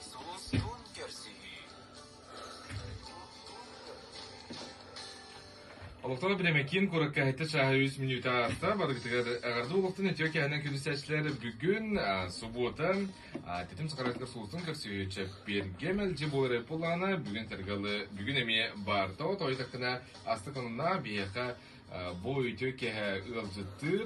Сулустуун көрсүһүү Олохтоох Бирэмэкиин куоракка хэттэ чааһа үс мүнүүтэ ааста. Барыгытыгар эҕэрдэ олохтон үтүө киһинэн күнүсээччилэр бүгүн а, субуота а, Тэтим сахаратыгар сулустун көрсүһүү чэппиэргэ мэлдьи буолар эппулаана бүгүн сэргалы бүгүн эмиэ баарда тойу таккына астык онуна биһиэхэ а, бу үтүө киһи ыалдьыттыыр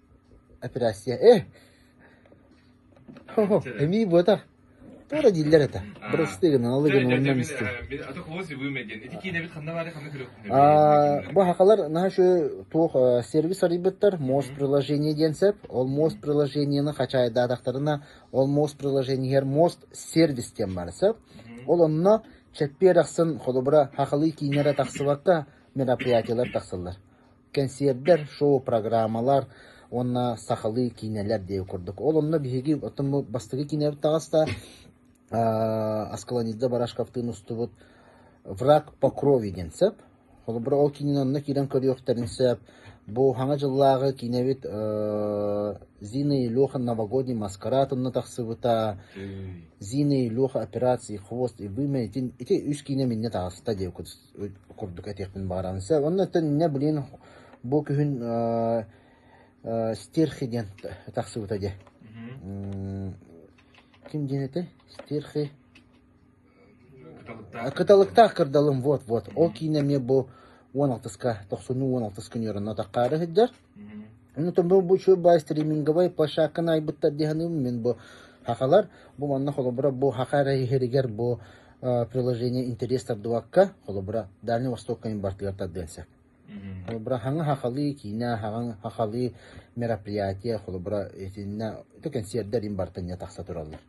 Операция э Хо-хо, эмиий буотах Туора дииллэр этэ Бырастыы гынан алы гынан онно мистим А то кого свивыме диэн ити киинэбит ханна баары ханна көрөхтүн бу хакалар наһаа үчү туох сервис арыйбыттар мост приложение диэн сөп ол мост приложениены хачаайдаатахтарына ол мост приложениеһэр мост сервис диэн баар сөп ол онно чэппиэр ахсын холобура хахалыы киинэрэ тахсыбакка мероприятиелар тахсыллар кэнсиэрдэр, шоу-программалар уонна сахалыы киинэлэр диэки курдук. Ол онно биһиги бастакы киинэбит таҕыста, Аскалонизда Барашковтыын устубут «Враг по крови» диэн сөп. Холобура, ол киинэн онно киирэн көрүөхтэрин сөп. Бу саҥа дьыллааҕы киинэбит Зина Илюха новогодний маскарад онно тахсыбыта. Зина Илюха операции «Хвост» и «Вымя» ити үс киинэ миннэ таҕыста диэки курдук этиэхпин баҕаран сөп. Онно төннө, блин, бу күһүн стерхи диэн тахсыбыта дьэ. Ким диэн этэ? Стерхи. Кыталыктаах кырдалым, вот-вот. Ол киинэ эмиэ бу 16-ска, тохсунну 16-ска ньыранна таххаары сылдьар. Ону бу сылбаа стриминговай площадканы айбыттар дии саныыбын мин бу Хахалар бу манна холобура бу Хаха эрэ иһэригэр бу приложение интерес тардыбакка холобура Дальний Восток кайын бартыгар тардыан сөп. Холобура хаҥа хахалыы киинэ хаҥа хахалыы мероприятие холобура итиннэ кэнсиэрдэр ин бартыҥҥа тахса тураллар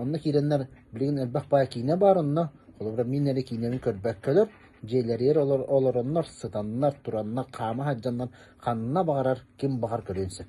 Онно киирэннэр билигин элбэх баай киинэ баар онно, холобура мин эрэ киинэни көрбөккөлөр, дьиэлэригэр олороннор, сытаннар, тураннар, хаама сылдьаннар ханна баҕарар ким баҕар көрүөн сөп